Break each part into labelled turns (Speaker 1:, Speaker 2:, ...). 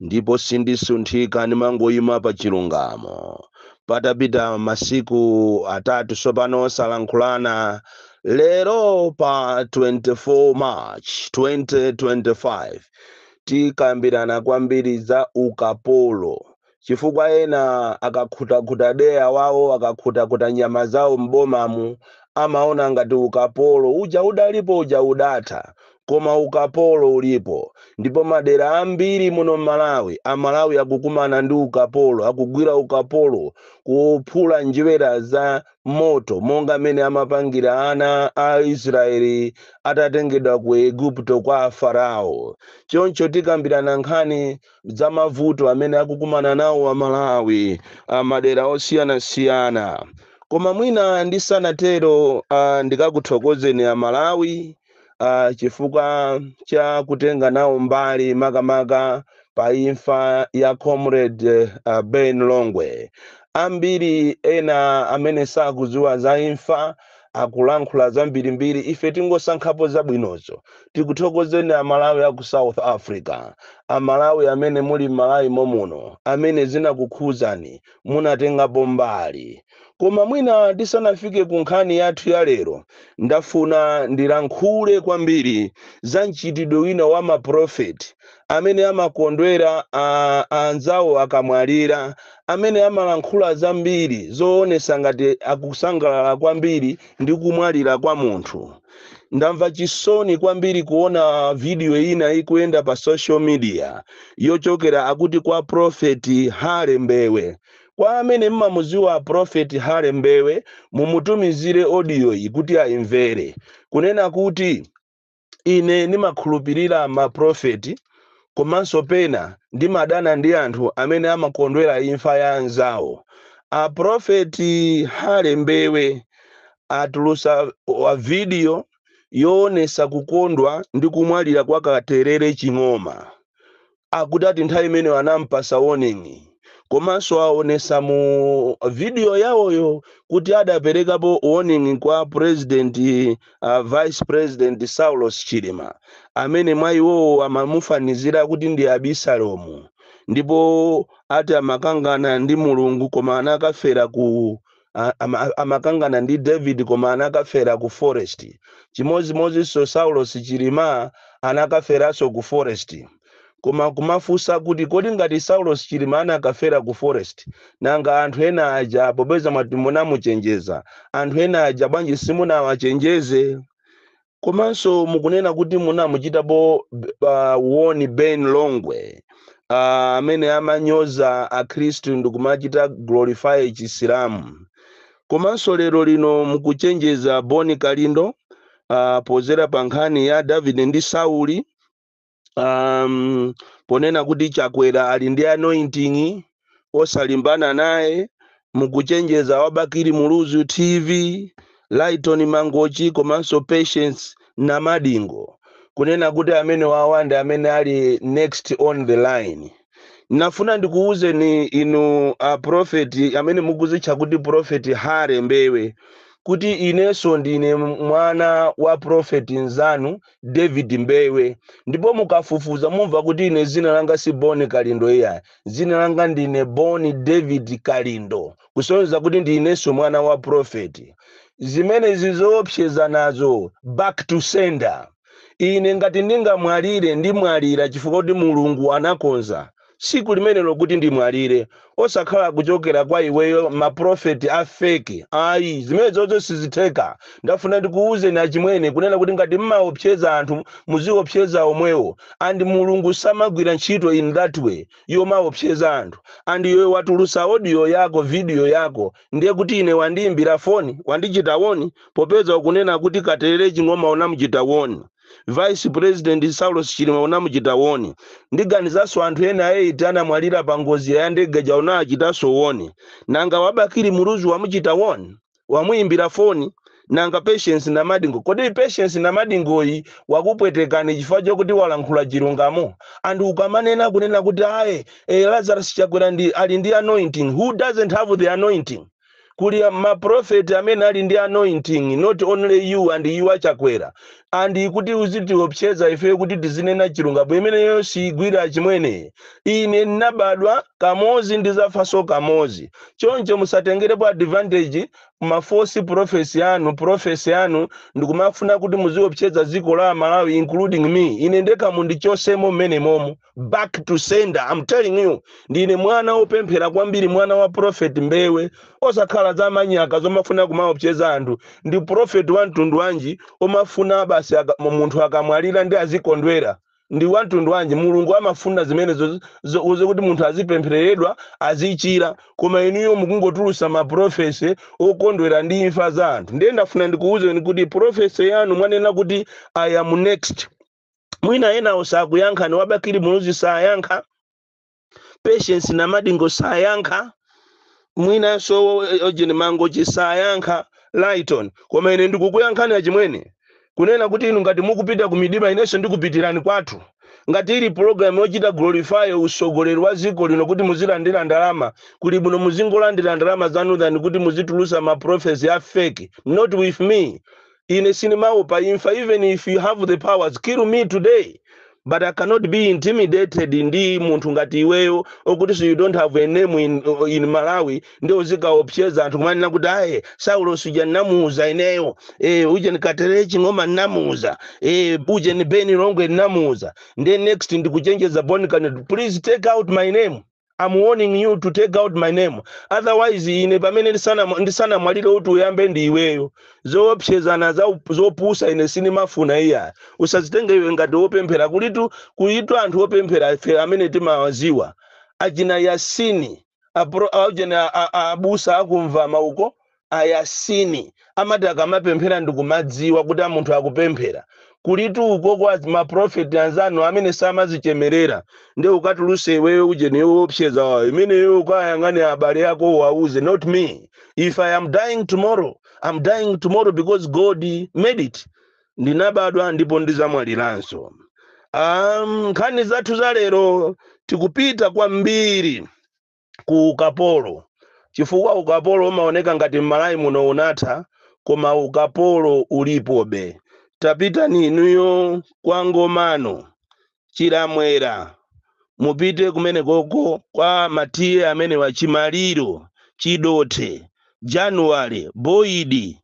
Speaker 1: ndipo sindisunthika, ndimangoima pa chilungamo. Patapita masiku atatu tsopano osalankhulana, lero pa 24 March 2025 tikambirana kwambiri za ukapolo chifukwa ena akakhutakhuta deya wawo akakhutakhuta nyama zawo m'bomamu amaona ngati ukapolo uja udalipo uja udatha koma ukapolo ulipo ndipo madera ambiri muno m'malawi amalawi akukumana ndi ukapolo akugwira ukapolo kuphula njerwa za moto monga mmene amapangira ana a israeli atatengedwa ku eguputo kwa afarao choncho tikambirana nkhani za mavuto amene akukumana nawo amalawi amadera osiyanasiyana koma mwina ndisanatero uh, ndikakuthokozeni amalawi uh, chifukwa cha kutenga nawo mbali makamaka pa imfa ya comrade uh, ben longwe ambiri ena amene sakudziwa za imfa akulankhula zambirimbiri ife tingosankhapo zabwinozo tikuthokozeni amalawi aku south africa amalawi amene muli m'malawi momuno amene zinakukhuzani munatengapo mbali. Koma mwina tisanafike ku nkhani yathu ya lero, ndafuna ndilankhule kwambiri za mchitidwe wina wa maprofeti amene amakondwera a anzawo akamwalira, amene amalankhula zambiri zoonetsa ngati akusangalala kwambiri ndi kumwalira kwa munthu. ndamva chisoni kwambiri kuona video ina ikuyenda pa social media yochokera akuti kwa profeti hale mbewe kwa amene mmamuziwa profeti hale mbewe mumutumizire audio iyi kuti ayimvere kunena kuti ine ndimakhulupirira maprofeti komanso pena ndimadana ndi anthu amene amakondwera imfa ya anzawo aprofeti hale mbewe Atulusa Vidiyo Yoonetsa Kukondwa ndi Kumwalira kwa Katelele Ching'oma Akuti ati nthawi imeneyo anampasa warning komanso aonesa mu video yawoyo kuti adaperekapo warning kwa president uh, vice president Saulos Chilima amene mwa iwowo amamufanizira kuti ndi Abisalomu ndipo ati amakangana ndi Mulungu koma anakafera ku a- ama- amakangana ndi david koma anakafera ku forest chimodzimodzinso saulos chilima anakaferanso ku forest koma kumafunsa kuti kodi ngati saulos chilima anakafera ku forest nanga anthu ena aja popeza mwati munamuchenjeza anthu ena aja bwanji simunawachenjeze komanso mukunena kuti munamuchitapo b- ah, warn ben longwe ah, amene amanyoza akhristu ndikumachita glorify chisilamu komanso lero lino mukuchenjeza bon kalindo ah, podzera pa nkhani ya davide ndi sauli um, ponena kuti chakwera ali ndi anointing osalimbana naye mukuchenjeza wa bakili muluzi tv lighton mangochi komanso patience namadingo kunena kuti amenewawa ndi amene ali next on the line ndafuna ndikuwuzeni inu a profeti amene mukuzitcha kuti profeti hare mbewe kuti inenso ndine mwana wa profeti mnzanu david mbewe ndipo mukafufuza mumva kuti ine dzina langa si bon kalindo iyayi dzina langa ndine bon david kalindo kusonyeza kuti ndi inenso mwana wa profeti zimenezi zoopsezana zo back to sender ine ngati ndingamwalire ndimwalira chifukwa kuti mulungu anakonza tsiku limenelo kuti ndimwalire osakhala kuchokera kwa iweyo ma prophet a fake ayi zimenezozo sizitheka ndafuna ndikuwuzeni achimwene kunena kuti ngati mmaopseza anthu muziopseza omwewo and mulungu samagwira ntchito in that way yomaopseza anthu and iwe watulutsa audio yako video yako ndiye kuti ine wandiyimbira foni wandichita warn popeza ukunena kuti katelele ching'oma unamuchita warn Vice President Saulos Chilima unamuchita warn. Ndiganizanso anthu ena 8 anamwalira pa ngozi ya ndege ija unawachitanso warn. Nanga wa Bakili Muluzi wamuchita warn? Wamuimbira foni? Nanga Patience Namadingo? Kodi Patience Namadingoyi wakupwetekani chifukwa chokuti walankhula chilungamo? Anthu ukamanena kunena kuti aye eh, Lazarus Chakwera ali ndi anointing. Who doesn't have the anointing? kuli ma prophet amene ali ndi anointing not only you and you a chakwera and kuti uzitiopseza ifeyo kuti tisanene chilungamo imeneyo siyigwira achimwene ine ndinabadwa kamodzi ndidzafanso kamodzi choncho musatengerepo advantage ma false profesi anu profesi anu ndikumafuna kuti muziopseza dziko la malawi including me ine ndekha mundichotsemo mmenemomo back to sender i'm telling you ndine mwana wopemphera kwambiri mwana wa prophet mbewe osakhala za manyaka zomafuna kumaopseza anthu ndi prophet wa mtundu wanji omafuna basi aka- mu- munthu akamwalira ndiye azikondwera ndi wa mtundu wanji mulungu amafuna zimenezo zo- zokuti munthu azipemphereredwa azichira koma inuyo mukungotulutsa maprofesi okondwera ndi imfa za anthu ndiye ndafuna ndikuwuzeni kuti profesi yanu mwanena kuti i am next mwina enawo sakuyankhani a bakili muluzi sayankha patience namadingo sayankha mwinanso aujeni mangochi sayankha lighton koma ine ndikukuyankhani achimwene kunena kuti inu ngati mukupita ku mdima inenso ndikupitirani kwathu ngati ili pulogalamu yochita glorify usogoleri wa dziko lino kuti muzilandira ndalama kuli bwino muzingolandira ndalama zanu than kuti muzitulusa maprofesi a fake not with me ine sindimaopa imfa even if you have the powers kill me today but i cannot be intimidated ndi munthu ngati iweyo okutinso you don't have a name in, in malawi nde uzikaopseza anthu kumanena kuti aye saulosi uja nnamuuza ineyo e, ujeni gatele ching'oma nnamuuza e, ujeni ben longwe nnamuuza ndiye next ndikuchenjeza bon kalindo please take out my name am warning you to take out my name otherwise ine pamene ndisana- ndisanamwalire uti uyambe ndi iweyo zoopsezana za up- zopusa ine sindimafuna iya usazitenge iwe ngati wopemphera kulitu kulitu anthu opemphera ife amene timawaziwa achina yasini apro- achina a- a- abusa akumva mauko a Yasini amata akamapemphera ndikumadziwa kuti a munthu akupemphera kulitu uko kwa ma prophet anzanu amene samazichemerera nde ukatuluse iweyo ujeni yoopseza yakoyo imeneyo ukayang'ane abale ako uwauze not me if i am dying tomorrow i'm dying tomorrow because god made it ndinabadwa ndipo ndizamwaliranso um, nkhani zathu za lero tikupita kwambiri ku ukapolo chifukwa ukapolo umaoneka ngati m'Malawi muno unatha koma ukapolo ulipobe. Tapitani inuyo kwa Ngomano, Chilamwera, mupite kumenekoko kwa matiye amenewa, Chimaliro, Chidothe, January, Boyidi,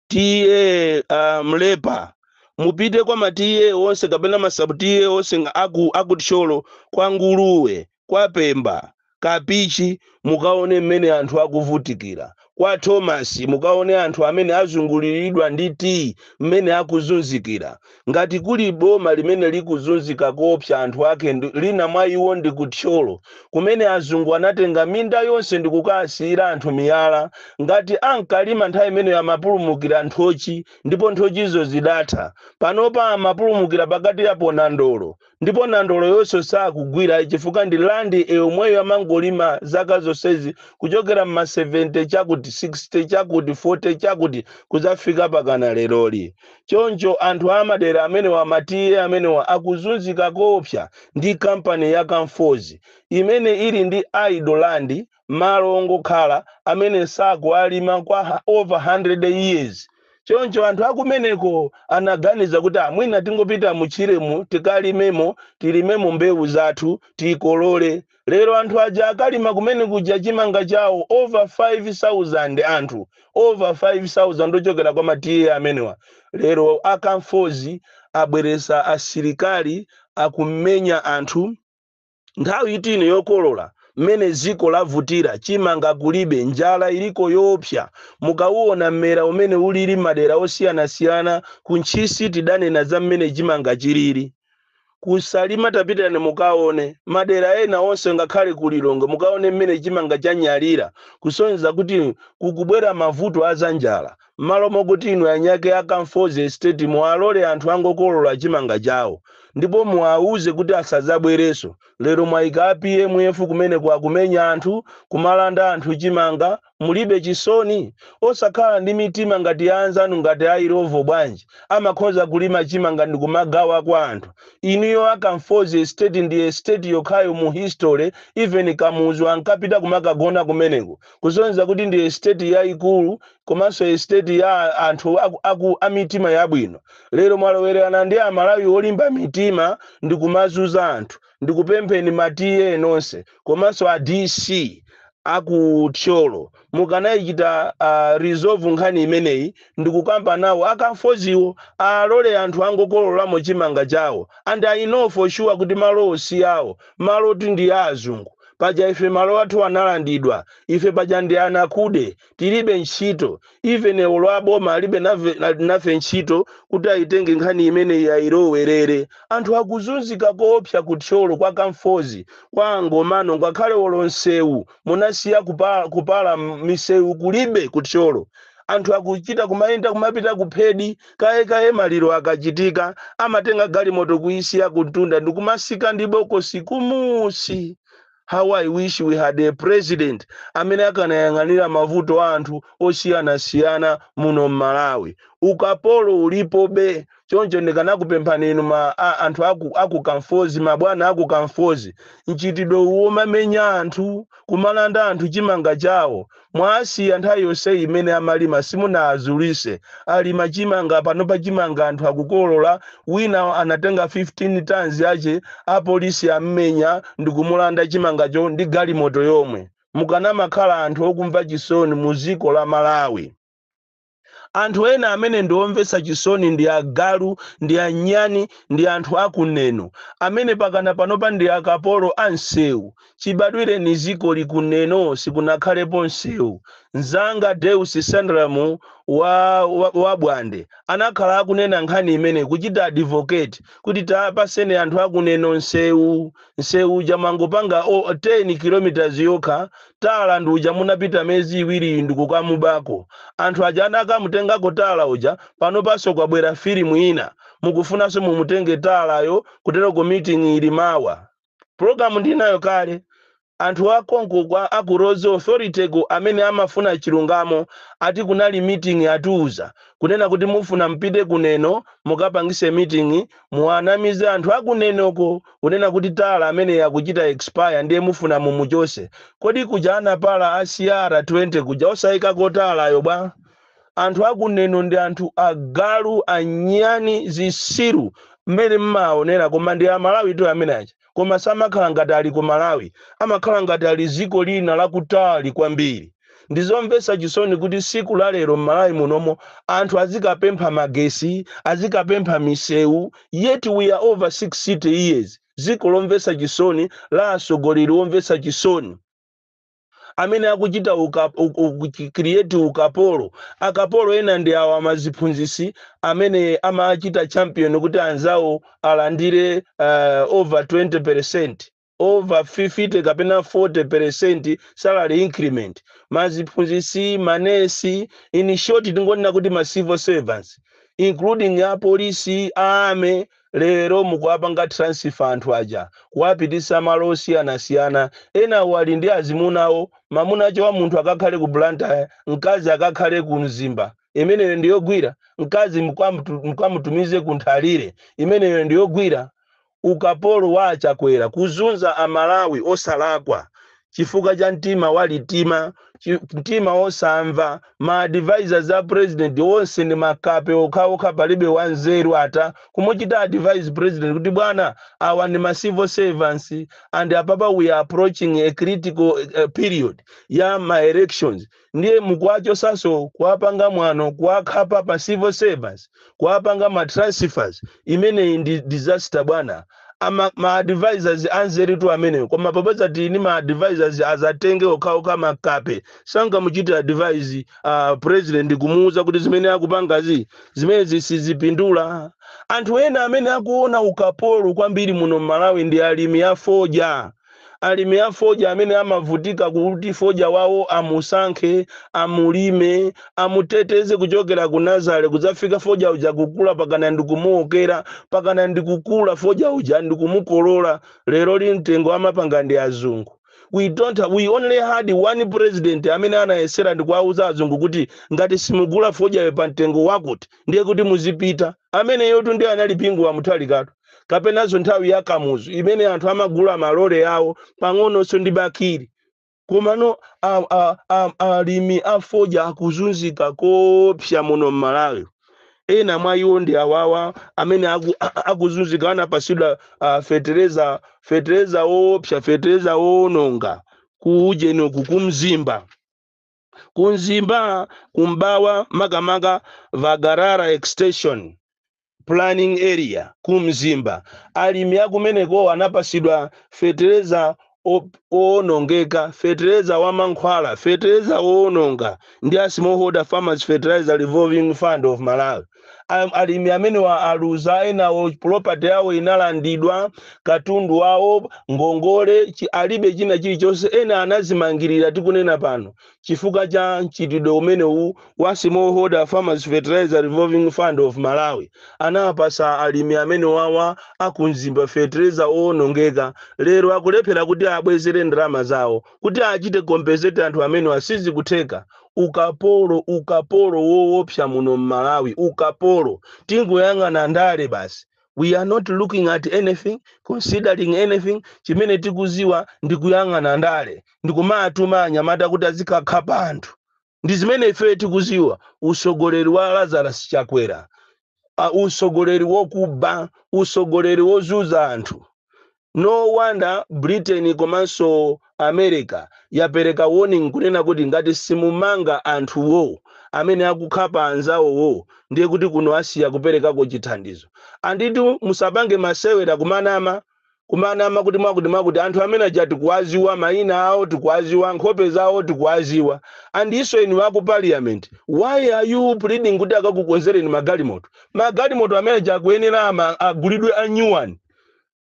Speaker 1: tiye a Mlepa, mupite kwa matiye onse kapena masabutiye onse aku, aku Thyolo, kwa Nguluwe, kwa Pemba, Kapichi mukaone mmene anthu akuvutikira, kwa Thomas mukaone anthu amene azungulilidwa ndi tiyi mmene akuzunzikira. Ngati kuli boma limene likuzunzika koopsa anthu ake ndi, lina mwa iwo ndi ku Thyolo kumene azungu anatenga minda yonse ndikukaasiyira anthu miyala ngati ankalima nthawi imeneyo amapulumukira nthochi ndipo nthochizo zidatha. Panopa amapulumukira pakatipa pa nandolo. ndipo nandoloyonso sakugwira chifukwa ndi land yomweyo amangolima zaka zonsezi kuchokera mma 70 chakuti 60 chakuti 40 chakuti kuzafika pakana leroli choncho anthu amadera amenewa matiye amenewa akuzunzika koopsa ndi kampani ya Conforzi imene ili ndi idle land malo ongokhala amene sakuwalima kwa ha- over 100 years choncho anthu akumeneko anaganiza kuti "Ah, mwina tingopita mutchiremu tikalimemo tilimemo mbewu zathu tikolole lero anthu aja akalima kumene kuja chimanga chawo over 5000 anthu over 5000 ochokera kwa matiye amenewa lero akamfozi abweresa asilikali akumenya anthu Nthawi ino yokolola, mmene dziko lavutira, chimanga kulibe, njala iliko yoopsa. Mukauona mmera umene ulili m'madera osiyanasiyana, ku Ntchisi tidanena za mmene chimanga chilili. Ku Salima tapitani mukaone. Madera ena onse ngakhale ku Lilongwe mukaone mmene chimanga chanyalira kusonyeza kuti kukubwera mavuto a zanjala. Mmalo mokuti inu anyake a Kamfozi Estate muwalole anthu angokolola chimanga chawo ndipo muwauze kuti asadzabwerenso, lero mwaika a PMF kumeneko akumenya anthu, kumalanda anthu chimanga, mulibe chisoni? Osakhala ndi mitima ngati ya anzanu ngati a Illovo bwanji, amakhoza kulima chimanga ndikumagawa kwa anthu. Inuyo a Kamfozi Estate ndi Estate yokhayo mu history, even Kamuzu ankapita kumakagona kumeneko. kusonyeza kuti ndi esiteti yaikulu komanso esiteti ya anthu aku, aku, a mitima yabwino lero mwalowererana ndi amalawi olimba mitima ndi kumazuza anthu ndikupempheni ma ta nonse komanso a dc aku thyolo mukanayichita uh, resolve nkhani imeneyi ndikukamba nawo akamfoziwo alole anthu angokololamo chimanga chawo and i know for sure kuti malowo si awo malowo ndi a azungu Paja ife malo athu analandidwa, ife paja ndi anakude, tilibe ntchito, even olo a boma alibe nave, nafe ntchito kuti ayitenge nkhani imeneyi ayilowerere. Anthu akuzunzika koopsa ku Thyolo kwa Kamfozi, kwa a Ngomano ngakhale olo nsewu munasiya kupa, kupala, misewu kulibe ku Thyolo. Anthu akuchita kumayenda kumapita ku Phedi Kaye kaye maliro akachitika amatenga galimoto kuyisiya kumtunda ndikumasika ndi bokosi kumusi. How I wish we had a president amene akanayang'anira mavuto a anthu osiyanasiyana muno m'Malawi. Ukapolo ulipobe choncho ndikanakupemphani inu ma a anthu aku aku Kamfozi mabwana aku Kamfozi mchitidwe uwu omamenya anthu, kumalanda anthu chimanga chawo, Mwasiya nthawi yonseyi imene amalima simunaazulise, alima chimanga panopa chimanga anthu akukolola, wina anatenga 15 tons yache apolisi ammenya ndikumulanda chimangacho ndi galimoto yomwe. Mukanamakhala anthu okumva chisoni muziko la Malawi. Anthu ena amene ndi omvetsa chisoni ndi agalu, ndi anyani, ndi anthu a ku Neno, amene pakana panopa ndi akapolo a msewu. Chibadwireni zikoli, ku Neno sikunakhalepo msewu. Mzanga Deus Sandram wa wa wa Bwande anakhala akunena nkhani imeneyi, kuchita advocate kuti tawapatseni anthu a ku Neno msewu. nsewu uja mwangopanga o 10 km yokha tala nduja munapita mezi iwiriyi ndikukamubako anthu aja adakamutengako tala uja panopanso kwabwera filimu ina mukufunanso mumutenge talayo kuteroko meeting ili mawa program ndinayo kale anthu akonko kwa aku roads authority ko amene amafuna chilungamo ati kunali meeting atiuza kunena kuti mufuna mpite ku Neno mukapangise meeting muwanamize anthu aku Nenoko kunena kuti Tala ameneyi akuchita expire ndiye mufuna mumuchose? Kodi kuja anapala a CR20 kuja osaikako Tala yo bwa? Anthu aku Neno ndi anthu agalu, anyani, zisiru mmene mmawaonera koma ndi a Malawi tu amene aja. koma samakhala ngati ali ku Malawi amakhala ngati ali ziko lina lakutali kwambiri ndizomvetsa chisoni kuti siku la lero m'Malawi munomo anthu azikapempha magesi azikapempha misewu yet we are over 60 years ziko lomvetsa chisoni la atsogoleri omvetsa chisoni amene akuchita uka, u, u, create ukapolo akapolo ena ndi awa maziphunzisi amene amachita champion kuti anzawo alandire uh, over 20% over 50 kapena 40% salary increment maziphunzisi manesi in short tingonena kuti ma civil servants including apolisi a army Lero mukuwapanga transfer anthu aja kuwapitisa malo osiyanasiyana. Enawo ali ndi azimuna awo. Mamuna ache wa munthu akakhale ku Blantyre, mkazi akakhale ku Mzimba. Imeneyo ndi yogwira? Mkazi mukamutumize ku Nthalire. Imeneyo ndi yogwira? Ukapolo wa a Chakwera kuzunza a Malawi osalakwa. chifukwa cha mtima walitima chi- mtima osamva ma advisors a president onse ndi makape okhaokha palibe wanzeru ata kumuchita advise president kuti bwana awa ndi ma civil servants and apapa we are approaching a critical eh, period ya ma elections ndiye mukuwachosanso kuwapanga mwano kuwakhapa ma civil servants kuwapanga ma transfers imeneyi ndi disaster bwana ma advisors anzeru tu amenewo koma popeza tili ndi ma advisors azatenge okhaokha makape sangamuchite advise uh, president kumuuza kuti zimene akupangazi zimenezi sizipindula anthu ena amene akuona ukapolo kwambiri muno m'Malawi ndi alimi afodya Alimi a fodya amene amavutika kuti fodya wawo amusankhe, amulime, amuteteze kuchokera ku nazale kudzafika fodya uja kukula mpakana ndi kumuokera, mpakana ndi kukula fodya uja ndi kumukolola, lero lino mtengo amapanga ndi azungu. We don't we only had one president amene anayesera ndikuwauza azungu kuti ngati simugula fodyayo pa mtengo wakuti ndiye kuti muzipita. Ameneyotu ndiye anali Bingu wa Mutharikatu. kapenanso nthawi ya Kamuzu imene anthu amagula malole awo pang'ononso ndi Bakili komano a- a- a- alimi a fodya akuzunzika koopsa muno m'Malawi ena mwa iwo ndi awawa amene aku- akuzunzika anapasidwa ah, fetereza fetereza woopsa fetereza woononga kuujeni uku ku Mzimba ku Mzimba ku M'mbawa makamaka Vibangalala Extension Planning Area ku Mzimba, alimi akumenekowa anapasidwa fetereza owonongeka, fetereza wa mankhwala, fetereza owononga ndi a Smallholder Farmers Fertilizer Revolving Fund of Malawi. Am- alimi amenewa aluza enawo property yawo inalandidwa katundu wawo ngongole chi- alibe china chilichonse ena anazimangirira tikunena pano chifukwa cha mchitidwe umenewu wa smallholder farmers fertilizer revolving fund of malawi anawapasa alimi amenewawa aku Mzimba fertilizer owonongeka lero akulephera kuti abwezere ndalama zawo kuti achite compensate anthu amenewa sizikutheka ukapolo ukapolo woopsa muno m'Malawi ukapolo tingoyang'ana ndale basi we are not looking at anything considering anything chimene tikuziwa ndi kuyang'ana ndale ndikumatuma anyamata kuti azikakhapa anthu ndi zimene ifeyo tikuziwa usogoleri wa Lazarus Chakwera usogoleri wokuba usogoleri wozuza anthu no wonder Britain komanso America yapereka warning kunena kuti ngati simumanga anthuwo amene akukhapa anzawowo ndiye kuti kuno asiya kuperekako chithandizo anditu musapange masewera kumanama kumanama kuti mwakuti mwakuti anthu amene aja tikuwaziwa mayina awo tikuwaziwa nkhope zawo tikuwaziwa andiso inu aku parliament why are you pleading kuti akakukonzereni magalimoto magalimoto amene aja akuyenera ama- agulidwe a new one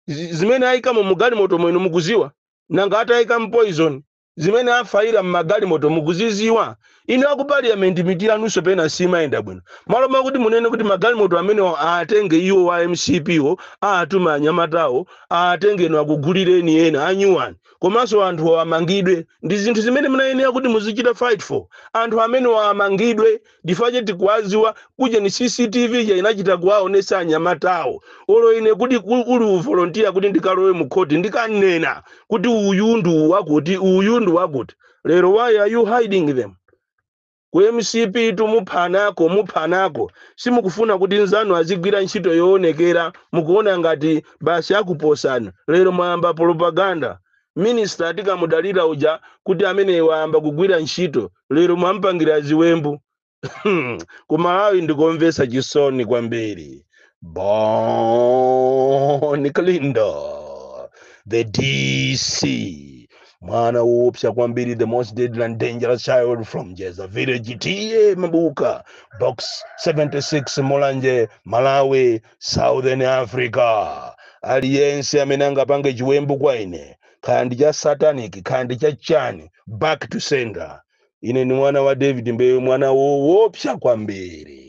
Speaker 1: Zi- zimene ayikamo mugalimoto mwenu mukuziwa nanga atayika poison zimene afayira mmagalimoto mukuziziwa? inu aku parliament mitu yanunso pena simayenda bwino malo mwakuti munene kuti magalimoto amenewa aatenge iwo a MCP wo aatuma anyamatawo aatenge inu akugulireni ena a new one komanso anthuwo amangidwe ndizinthu zimene munayenera kuti muzichita fight for anthu amenewa amangidwe ndife tikuwadziwa kujeni cctv ija inachita kuwaonesa anyamatawo olo ine kuti ku- uli uvolontiya kuti ndikalowe mu khoti ndikanena kuti uyu ndi wakuti uyu ndi wakuti lero why are you hiding them ku mcp tu muphanako muphanako simukufuna kuti mnzanu azigwira ntchito yoonekera mukuona ngati basi akuposani lero mwayamba propaganda minister tikamudalira uja kuti ameneyo ayamba kugwira ntchito lero mwampangira ziwembu ku malawi ndikomvetsa chisoni kwambiri bon kalindo the dc mwana woopsa kwambiri the most deadly and dangerous child from jeza village ta mabuka box 76 mulanje malawi Southern Africa, aliyense amene angapange chiwembu kwa ine, kaya ndi cha satanic, kaya ndi cha chani, back to sender. Ine ndi mwana wa David Mbewe, mwana woopsa kwambiri.